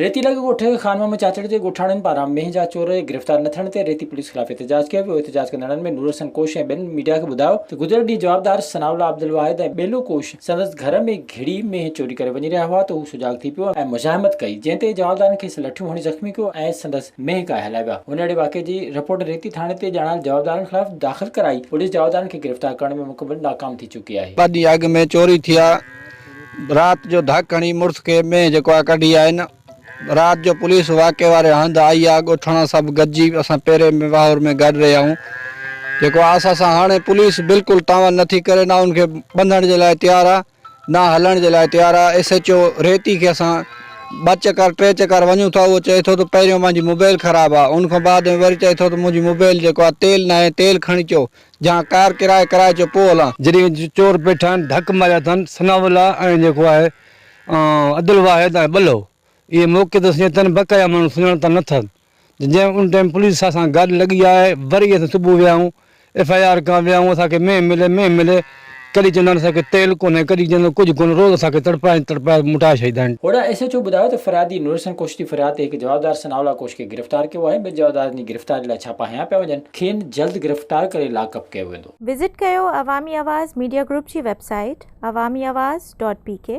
ريتي لڳ ڳوٺ خانمحمد چاچڙ جي ڳوٺاڻن پاران مينهن جا چور گرفتار نه ٿيڻ تي ريتي پوليس خلاف احتجاج ڪيو ويو احتجاج ڪندڙن ۾ نورحسن ڪوش ۽ ٻين ميڊيا کي ٻڌايو ته گذريل ڏينهن جوابدار ثناء الله عبدالواحد ۽ ٻيلو ڪوش سندس گهر ۾ گهڙي مينهن چوري ڪري وڃي رهيا هئا ته هو سجاڳ ٿي پيو ۽ مزاحمت ڪئي جنهن تي جوابدارن کيس لٺيون هڻي زخمي ڪيو ۽ سندس مينهن ڪاهي هلايا ويا هن اهڙي واقعي جي رپورٽ ريتي ٿاڻي تي ڄاڻايل جوابدارن خلاف داخل ڪرائي پوليس جوابدارن کي گرفتار ڪرڻ ۾ مڪمل ناڪام ٿي چڪي آهي. ٻه ڏينهن اڳ مينهن چوري ٿي آ رات جو ڌڪ هڻي مڙس کي مينهن جيڪو آ ڪڍي آين رات جو پوليس واقعي واري هنڌ آئي آ ڳوٺاڻا سڀ گڏجي اسان پيري ۾ واهور ۾ گڏ رهيا هون جيڪو آ سا سان هاڻي پوليس بلڪل تعاون نٿي ڪري نه ان کي ٻنڌڻ جي لاء تيار آ نه هلڻ جي لاء تيار آ ايس ايچ او ريتي کي اسان ٻه چڪر ٽي چڪر وڃون ٿا اهو چئي ٿو ته پهريون مانجي موبيل خراب آ ان کان بعد ۾ وري چئي ٿو ته منهنجي موبيل جيڪو آ تيل ناهي تيل کڻي چو جهان ڪار ڪرائي ڪرائي چو پوء هلان. جڏهن چور پيٺان ڍڪ ماريا اٿن ثناء الله ۽ جيڪو آهي عبدالواحد ۽ ٻلهو اهي موقعي تي سڃي تن بقع جا ماڻهو سڃاڻتا نه ٿن ته جنهن ان ٽائيم پوليس سان گاڏي لڳي آهي وري اسين صبح ويا آهيون ايف آء آر ڪان ويا آهيون اسان کي مينهن ملي مينهن ملي ڪڏھن چوندا آھن اسان کي تيل ڪونھي ڪڏھن چوندا آھن ڪجھ ڪونھي روز اسان کي تڙپائي تڙپائي موٽائي ڇڏيندا آھن. اوڙاھ ايس ايڇ او ٻڌايو ته فريادي نورحسن ڪوش جي فرياد تي ھڪ جوابدار ثناء الله ڪوش کي گرفتار ڪيو آھي، ٻين جوابدارن جي گرفتاري لاء ڇاپا ھنيا پيا وڃن، کين جلد گرفتار ڪري لاڪ اپ ڪيو ويندو. وزٽ ڪيو عوامي آواز ميڊيا گروپ جي website Awami Awaz dot P ڪي.